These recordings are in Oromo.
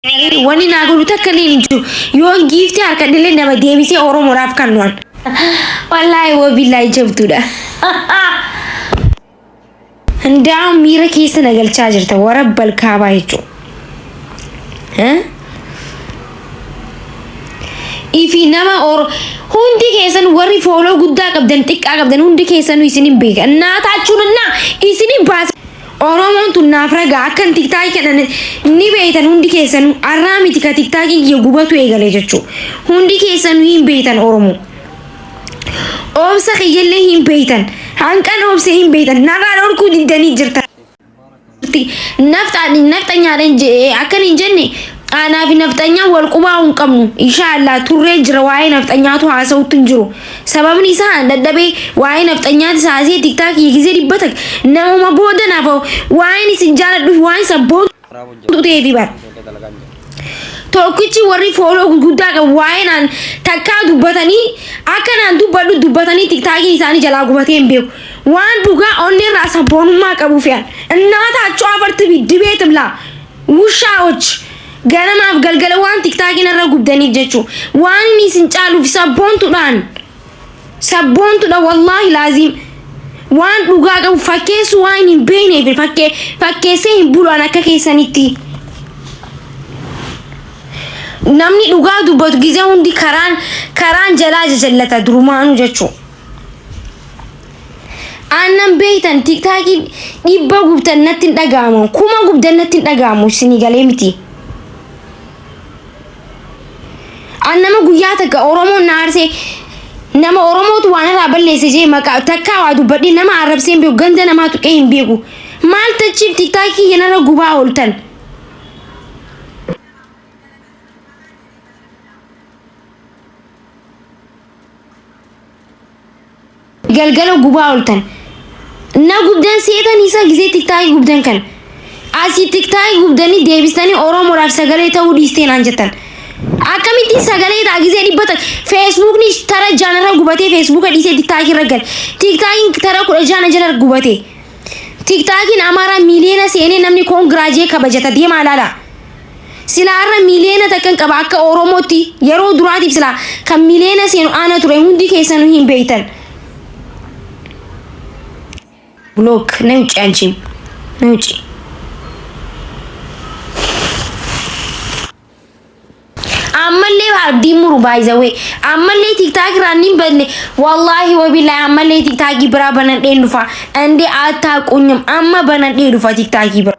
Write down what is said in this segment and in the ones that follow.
Wani naa godhu takka illee hin jiru. Yoon giiftee harkadhe illee nama deebisee Oromoodhaaf kan nu'an. Wallaahi wabillahi jabduudha. Hundaa'uun miira keessa na galchaa jirta warra balkaabaa jechuudha. Ifi nama oro hundi keessan warri fooloo guddaa qabdan xiqqaa qabdan hundi keessanuu isin hin beeka. Naa taachuun innaa isin hin baasa. Oromoon tun naaf ragaa akkan tiktaaki kennan ni beeytan hundi keessanu arraa miti ka tiktaakiin kiyya gubatu eegale jechu hundi keessanu hin beeytan Oromoo obsa kiyyallee hin beeytan hanqan obse hin beeytan narraa dhorkuu diddanii jirta nafxaan nafxanyaadhan jedhe akkan hin jenne aanaa fi nafxanyaa wal qubaa hin qabnu inshaa Allah turree jira waa'ee nafxanyaatu haasa'utti hin jiru Sababni isaa an dadhabee waa'ee nafxanyaati saasee tiktaak hiikisee dhibba tak namuma booda naaf hoo waa'een isin jaaladhuuf waa'een sabboontuu ta'eefi bar. Tokkichi warri fooloo gurguddaa qabu waa'ee naan takkaa dubbatanii akka naan dubbadhu dubbatanii tiktaakiin isaanii jalaa gubatee hin beeku. Waan dhugaa onneerraa sabboonummaa qabuufi an. Innaa taachoo afartibi dibeetim laa. Wushaa'ochi! Ganamaaf galgala waan tiktaakiin irra gubdaniif jechuu waan inni isin caaluuf sabboontuudhaan sabboontuudha wallaahi laaziim waan dhugaa qabu fakkeessuu waan inni hin beekneef fakkee fakkeessee hin bulu'an akka keessanitti namni dhugaa dubbatu gizee hundi karaan karaan jalaa jajallata durumaanuu jechuu Aannan beektan tiktaakii dhibba gubdan natti hin dhaga'amu. Kuma gubdan natti hin dhaga'amu isinii galee miti. An nama guyyaa takka Oromoon na aarsee nama Oromootu waan irraa balleesse jee maqaa takkaa waa dubbadhee nama arrabsee hin beeku ganda namaa tuqee hin beeku. Maal tachiif tiktaakii keenyarra gubaa ooltan. galgala gubaa oltan na gubdan seetan isa gisee tiktaakii gubdan kan asii tiktaakii gubdanii deebistanii oromoodhaaf sagalee ta'uu dhiisteen aan jettan akkamittiin sagalee ta'a gisee dhibba ta feesbuukni tara jaanarra gubatee feesbuuka dhiisee tiktaakii irra gale tiktaakiin tara kudha jaana jala gubate tiktaakiin amaaraa miiliyoona seenee namni koongiraajee kabajata deemaa ilaala. Silaa har'a miliyoona takkan qaba akka Oromootti yeroo duraatiif silaa kan miliyoona seenu aana ture hundi keessanuu hin beektan. Block na wucci anchiim na wucci. ammallee abdiin muru baay'isawee ammallee tiktaak irraa ni badne wallaahi wabillahi ammallee tiktaakii biraa banadheen dhufa andee attaa qunyam amma banadhee dhufa tiktaakii biraa.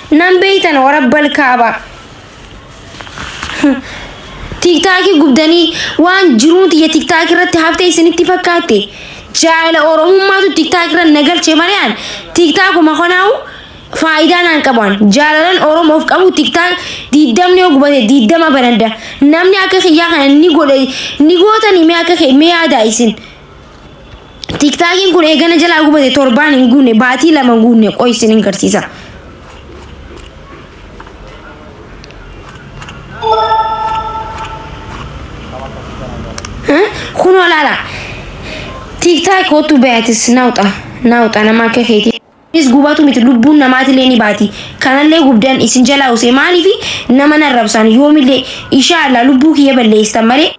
Nan beeytan warabbal kaabaa. Tiktaakii gubdanii waan jiruun tiyya tiktaakii irratti haftee isinitti fakkaatte. Jaala oromummaatu tiktaakii irra na galche malee an tiktaakuma kanaa'u faayidaa naan qabu an. Jaalalan oromoof qabu tiktaak diiddamni yoo gubate diiddama banadda. Namni akka kiyyaa kana ni godhe ni gootanii mee akka kee mee yaadaa isin. Tiktaakiin kun eegana jalaa gubate torbaan hin guunne baatii lama hin guunne qoy isin hin garsiisa. Kun olaala. Tiktaak kootu bayatis naawxa naawxa nama akka keetii. Is gubatu miti lubbuun namaatilee ni baati. Kanallee gubdan isin jalaa usee maaliifi nama narrabsaan yoomillee ishaallah lubbuu kiyya balleessan malee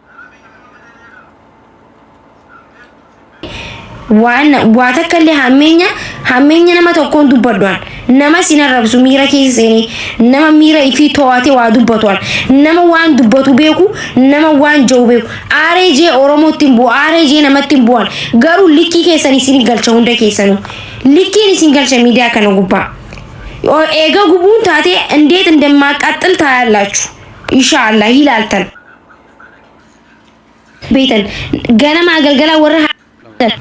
waan waa takka illee hammeenya hammeenya nama tokkoon dubbadhuan nama sin arrabsu miira keessa seenee nama miira ifii to'ate waa dubbatuan nama waan dubbatu beeku nama waan ja'u beeku aaree jee oromootti hin bu'u aaree jee namatti hin bu'an garuu likkii keessan isin galcha hunda keessanu likkiin isin galcha miidiyaa kana gubbaa O- eega gubuun taatee indeet indammaa qaxxil taayallachu insha allah ilaaltan beektan ganamaa galgalaa warra haadhan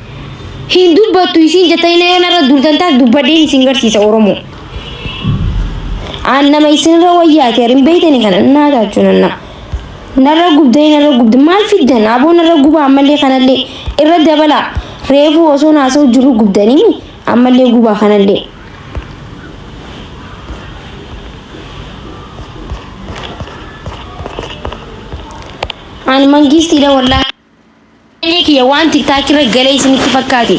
hin dubbattu isiin jettanii yoo narra duultan taas dubbadheen isin garsiisa Oromoo. Aan nama isinirra wayyaate hin beektani kana naa taachuu nanna. Narra gubdee narra gubde maal fiddan aboo narra guba ammallee kanallee irra dabala reefuu osoo naasoo jiru gubdanii ammallee gubaa kanallee. Ani mangiistiidha wallaahi. Baay'ee kiyya waan tiktaak irra galee isinitti fakkaate.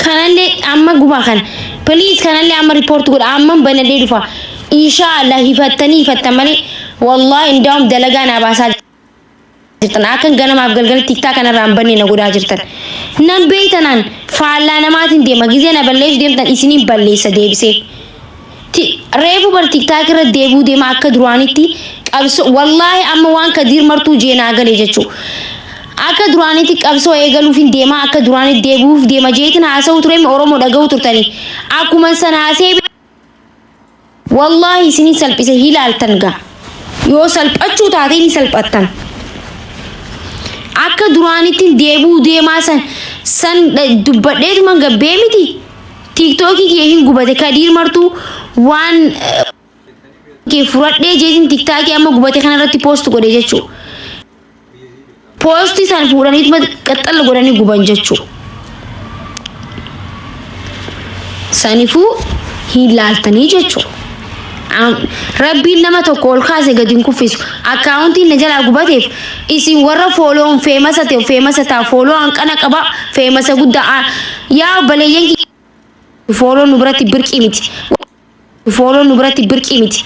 Kanallee amma gumaa kana. Please kanallee amma report godha. Amman banadhee dhufa. Inshaa Allah hifattanii hifattan malee. Wallaahi indaa'um dalagaa naa baasaa. jirtan akkan ganamaaf galgala tiktaa kanarraa hin banne na godhaa jirtan nan beeytanaan faallaa namaatiin deema gizee na balleessu deemtan isiniin balleessa deebisee Ti- reefu bar tiktaak irra deebuu deema akka duraanitti qabso wallaahi amma waan kadiir martuu jeenaa galee jechuu akka duraanitti qabsoo eegaluuf hin deema akka duraanitti deebi'uuf deema jeetin haasa'u ture oromoo dhaga'u turtanii akkuman san haasee Wallaahi isini salphise hilaaltan ga yoo salphachuu taate ni salphattan akka duraanittin deebi'uu deemaa san san dha- dubbadheetuman gabbee miti tiiktookii kiyya hin gubate kadiir martuu waan eh, kee furadhee jeetin tiktaakii amma gubate kana irratti poost godhe jechuu poostii san fuudhanii qaxxalla godhanii guban jechuu sanifuu hin laaltanii jechuu rabbiin nama tokko ol kaase gadi hin kuffisu akkaawuntiin na jalaa gubateef isin warra fooloon feemasa ta'e feemasa ta'a fooloo hanqana qaba feemasa guddaa yaa obboleeyyan fooloon nu biratti birqii miti Fooloon nu biratti birqii miti.